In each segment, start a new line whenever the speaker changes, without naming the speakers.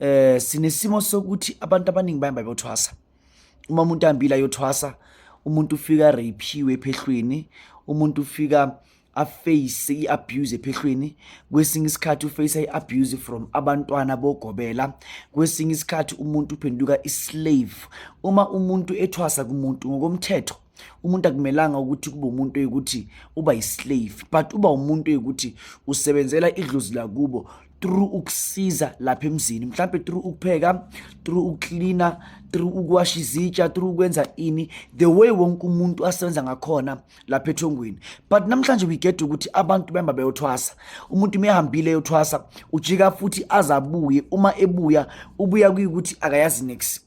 eh sinesimo sokuthi abantu abaningi bayamba bothwasa uma umuntu ambila yothwasa umuntu ufika rapiwe ephehlweni umuntu ufika aface i-abuse ephehlweni kwesinye isikhathi uface i-abuse from abantwana bogobela kwesinye isikhathi umuntu uphenduka i-slave uma umuntu ethwasa kumuntu ngokomthetho umuntu akumelanga ukuthi kube umuntu oyikuthi uba yislave but uba umuntu oyikuthi usebenzela idlozi lakubo through ukusiza lapha emzini mhlawumbe through ukupheka through ukucleana through ukuwasha izitsha through ukwenza ini the way wonke umuntu asebenza ngakhona lapha ethongweni but namhlanje we get ukuthi abantu behamba beyothwasa umuntu umehambile eyothwasa ujika futhi azabuye uma ebuya ubuya kuyikuthi akayazi next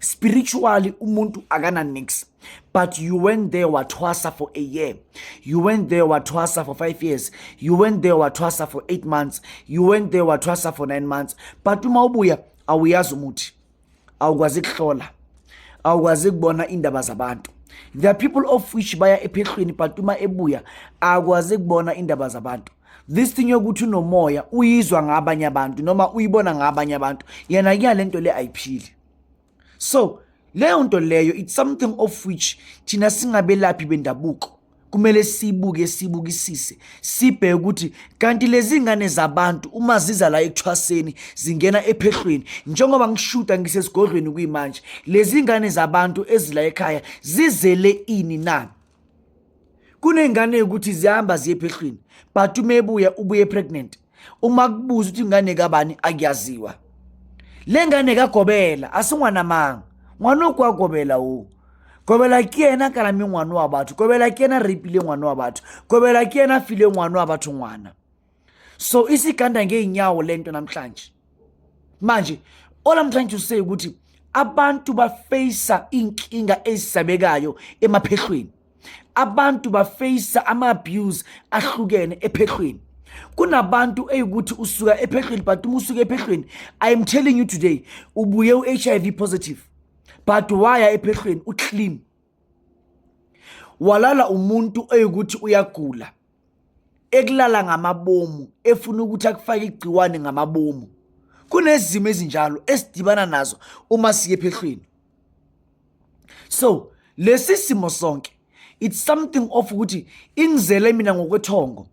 spiritually umuntu akana nix but you went there wathwasa for a year you went there wathwasa for five years you went there wathwasa for eight months you went there wathwasa for nine months but uma ubuya awuyazi umuthi awukwazi kuhlola awukwazi kubona indaba zabantu there are people of which baya ephehlweni but uma ebuya akwazi kubona indaba zabantu this thing yokuthi unomoya uyizwa ngabanye abantu noma uyibona ngabanye abantu yena kuyale nto le ayiphili so leyo nto leyo it's something of which thina singabelaphi bendabuko kumele sibuke sibukisise sibheke ukuthi kanti lezi ngane zabantu uma ziza la ekuthwaseni zingena ephehlweni njengoba ngishuta ngisesigodlweni kuyimanje lezi ngane zabantu ezila ekhaya zizele ini na kuney'ngane yokuthi zihamba ziye phehlwini but uma ebuya ubuye pregnant uma kubuza ukuthi ingane kabani akuyaziwa le ngane kagobela asingwanamanga ngwana okwagobela wo gobela ke yena kalame ngwana wa batho gobela ke yena rapile ngwana wa batho gobela ke yena file ngwana wa batho ngwana so isiganda ngeenyawo lento namhlanje manje all i'm trying to say ukuthi abantu bafeyisa inkinga ezisabekayo emaphehlweni abantu bafeyisa ama-abuse ahlukene ephehlweni kunabantu eyukuthi usuka ephehlweni but uma usuke ephehlweni i am telling you today ubuye u-h i v positive but waya ephehlweni uclean walala umuntu oyikuthi uyagula ekulala ngamabomu efuna ukuthi akufake igciwane ngamabomu kunezimo ezinjalo esidibana nazo uma siye phehlweni so lesi simo sonke it's something of ukuthi ingizele mina ngokwethongo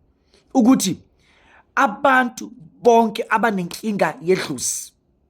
ukuthi abantu bonke abanenkinga yedlusi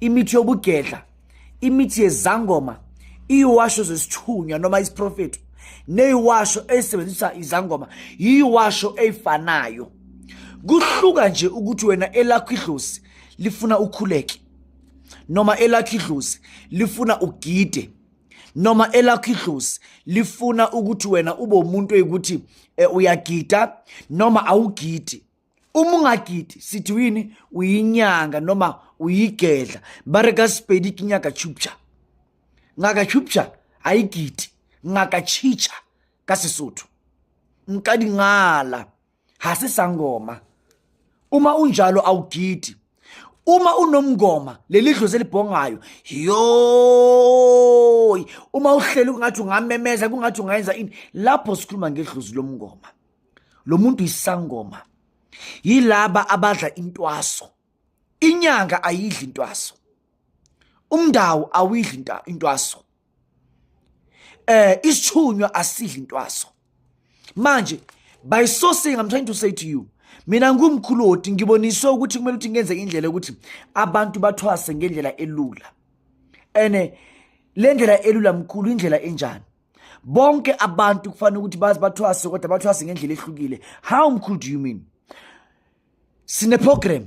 imithi yobugedla imithi yezangoma iyiwasho zesithunywa noma isiprofeto neyiwasho eyisebenzisa izangoma yiyiwasho eyifanayo kuhluka nje ukuthi wena elakho idlozi lifuna ukhuleke noma elakho idlozi lifuna ugide noma elakho idlozi lifuna ukuthi wena ube umuntu oyikuthi eh, uyagida noma awugidi uma ungagidi sithi uyini uyinyanga noma uyigedla bare ka sepedi ke nyaka chupcha ngaka chupcha ayigidi ngaka chicha ka sesotho mqadingala ha se sangoma uma unjalo awugidi uma unomngoma leli dlozi elibhongayo yoy uma uhleli kungathi ungamemeza kungathi ungayenza ini lapho sikhuluma ngedlozi lomngoma lo muntu isangoma yilaba abadla intwaso inyanga ayidli intwaso umndawo awidli intwaso eh isithunywa asidli intwaso manje by so saying i'm trying to say to you mina ngumkhuloti ngiboniswe ukuthi kumele ukuthi ngenze indlela ukuthi abantu bathwase ngendlela elula ene le ndlela elula mkhulu indlela enjani bonke abantu kufanele ukuthi bazi bathwase kodwa bathwase ngendlela ehlukile how mkhulu do you mean sineprogram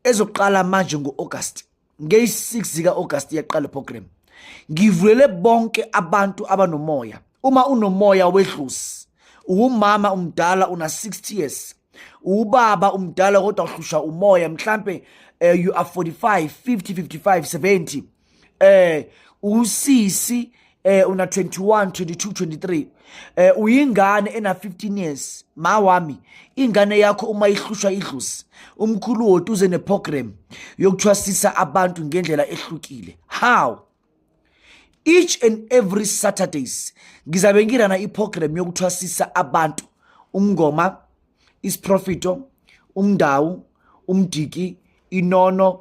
ezoqala manje ngo-august ngeyi-6 zika-august iyaqala iprogram ngivulele bonke abantu abanomoya uma unomoya wedlusi uwumama umdala una-60 years ubaba umdala kodwa uhlushwa umoya mhlampe uh, you are 45 50 55 70 eh usisi eh una 21 22 23 eh uyingane ena 15 years ma wami ingane yakho uma ihlushwa idlusi umkhulu woti uze neprogram yokuthwasisa abantu ngendlela ehlukile how each and every saturdays ngizabe ngirana iprogram yokuthwasisa abantu umngoma isiprofito umndawu umdiki inono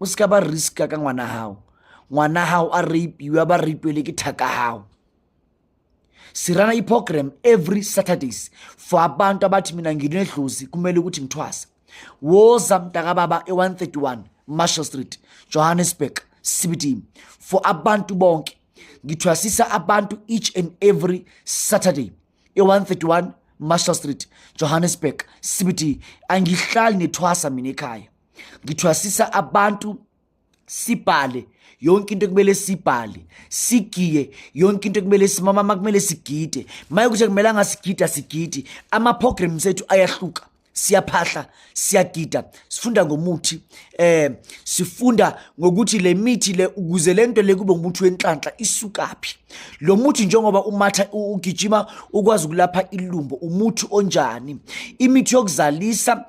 o se ka ba riska ka ngwana hao ngwana hao a rapiwa ba rapiwe le ke thaka hao sirana iprogram every saturdays for abantu abathi mina nginedlozi kumele ukuthi ngithwasa woza mntakababa e-131 marshall street johannesburg cbd for abantu bonke ngithwasisa abantu each and every saturday e-131 marshall street johannesburg cbd angihlali nethwasa mina ekhaya ngithwasisa abantu sibhale yonke into ekumele sibhale sigiye yonke into ekumele simama uma kumele sigide maye ukuthi akumelanga sigida sigidi ama-program sethu ayahluka siyaphahla siyagida sifunda ngomuthi eh sifunda ngokuthi le mithi le ukuze lento le kube umuthi wenhlanhla isukaphi lo muthi njengoba umatha ugijima ukwazi ukulapha ilumbo umuthi onjani imithi yokuzalisa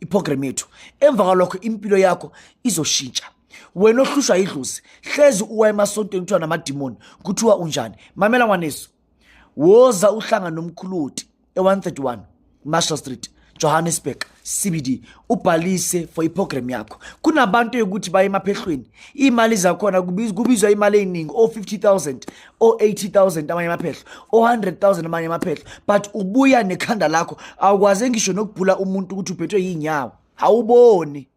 iprogram yethu emva kwalokho impilo yakho izoshintsha wena ohlushwa yidlozi hlezi uwa emasontweni kuthiwa namadimoni kuthiwa unjani mamela ngwanesu woza uhlanga nomkhuluti e-131 marshall street johannesburg cbd ubhalise for iprogram yakho kunabantu yokuthi baye emaphehlweni iy'mali zakhona kubizwa imali ey'ningi o-50 000 o-80000 amanye amaphehlo o-100000 amanye amaphehlo but ubuya nekhanda lakho awukwaze ngisho nokubhula umuntu ukuthi uphethwe yinyawo awuboni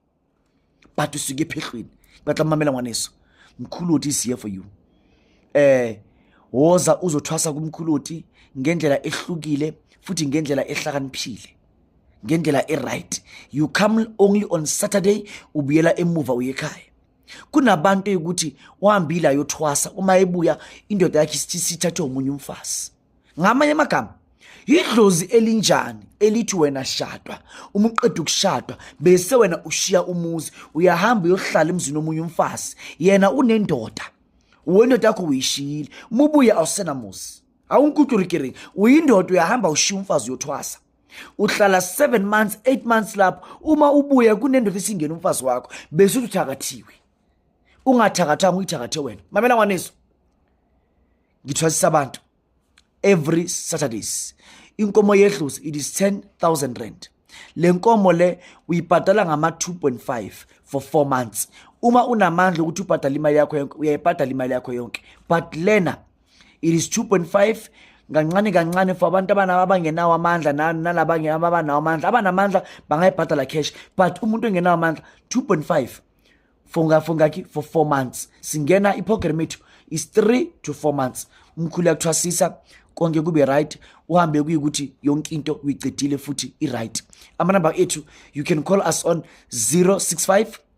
but usuke ephehlweni batla mamela ngwaneso mkhuluti is here for you eh woza uzothwasa kumkhuluti ngendlela ehlukile futhi ngendlela ehlakaniphile ngendlela e-right you come only on saturday ubuyela emuva uye ekhaya kunabantu eyukuthi wahambile ayothwasa uma ebuya indoda yakhe isithi sithathwe omunye umfazi ngamanye amagama yidlozi elinjani elithi wena shadwa uma uqeda ukushadwa bese wena ushiya umuzi uyahamba uyohlala emzini omunye umfazi yena unendoda wendoda yakho uyishiyile mubuye awusenamuzi awunkuturikiringi uyindoda uyahamba ushiya umfazi uyothwasa uhlala 7 months 8 months lapho uma ubuya kunendoda esingena umfazi wakho bese uthakathiwe ungathakathanga uyithakathe wena mamela ngwaneso ngithwasisa abantu every saturdays inkomo yedlozi it is 10000 rand le nkomo le uyibhadala ngama 2.5 for 4 months uma unamandla ukuthi ubhadala imali yakho yonke uyayibhadala imali yakho yonke but lena it is 2.5 kancane kancane for abantu abangenawo amandla nalaba abanawo amandla abanamandla bangayibhadala cash but umuntu engenawo amandla 2.5 for for ngakhi for 4 months singena iprogram ethu is 3 to 4 months umkhulu yakuthwasisa konke kube right uhambe kuyikuthi yonke into uyicedile futhi i-right amanamba ethu you can call us on 065